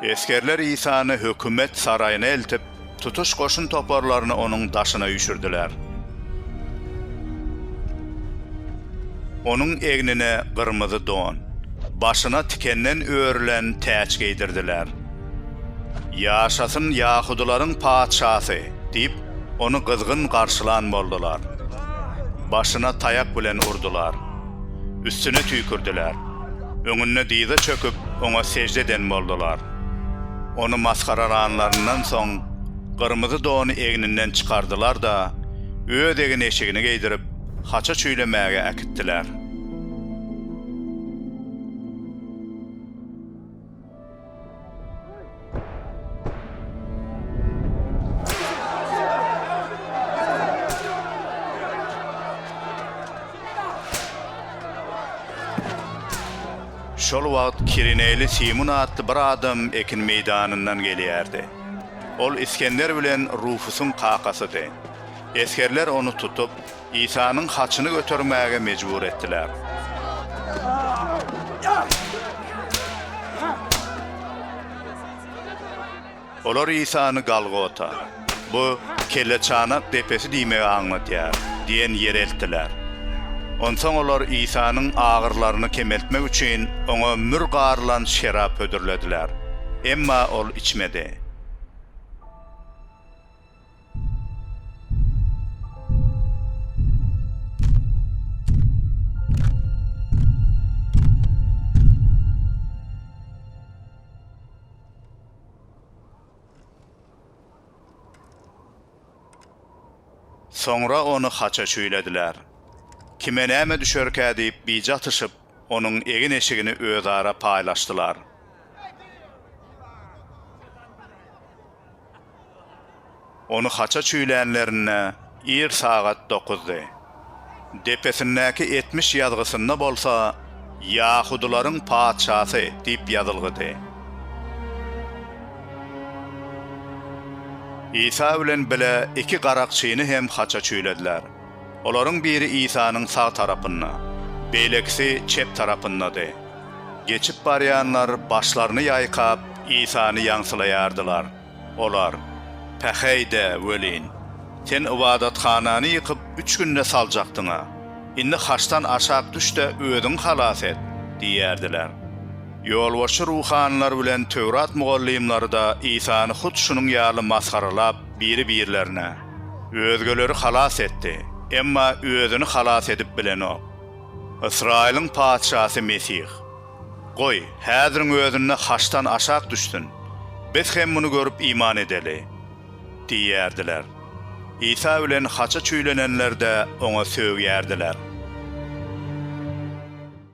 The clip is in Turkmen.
Esgerler Isany hökümet saraýyna eltip, tutuş goşun toparlaryny onuň daşyna üýşürdiler. Onuň egnine gyrmyzy don, başyna tikenden örülen täç geýdirdiler. Ýaşasyn ýahudylaryň patyşasy! diýip, ony gyzgyn garşylan boldular. Başyna taýak bilen urdular. üstüne tüýkürdiler. Öňünde dyza çöküp, oňa sežde eden boldular. Ony masgaralanlaryndan soň, gyrmyzy dony egninden çykardylar-da, öz egin-eşigini geýdirip, haça çüýlemäge äkitdiler. Şol wagt Kirineli Simun atly bir adam ekin meýdanyndan gelýärdi. Ol Isgender bilen Rufusyň kakasydy. Esgerler ony tutup, Isanyň haçyny götermäge mejbur etdiler. Olar Isany Galgota, bu Kelleçanak depesi diýmegi aňladýar, diýen ýere eltdiler. Onsoň olar Isanyň agyrlaryny kemeltmek üçin oňa mür garylan şerap hödürlediler. Emma ol içmedi. Soňra ony haça çüýlediler. Kime näme düşerkä diýip bije atyşyp, onuň egin-eşigini özara paýlaşdylar. Ony haça çüýlänlerinde ir sagat dokuzdy. Depesindäki etmiş ýazgysynda bolsa Ýahudylaryň patyşasy diýip ýazylgydy. Isa bilen bile iki garakçyny hem haça çüýlediler. Olaryň biri Isanyň sag tarapynda, beýlekisi çep tarapyndady. Geçip barýanlar başlaryny ýaýkap, Isany ýaňsylaýardylar. Olar, Päheý-de welin, Sen ybadathanany ýykyp, üç günde saljakdyň-a. Indi haçdan aşak düş-de, özüňi halas et! diýerdiler. Ýolbaşçy ruhanylar bilen Töwrat mugallymlary-da Isany hut şunuň ýaly masgaralap, biri-birlerine. Özgeleri halas etdi, emma özüni halas edip bilenok. Ysraýylyň Patyşasy Mesih. Goý, häziriň özünde haçdan aşak düşsün, biz hem muny görüp iman edeli! diýerdiler. Isa bilen haça çüýlenenler-de oňa sögýärdiler.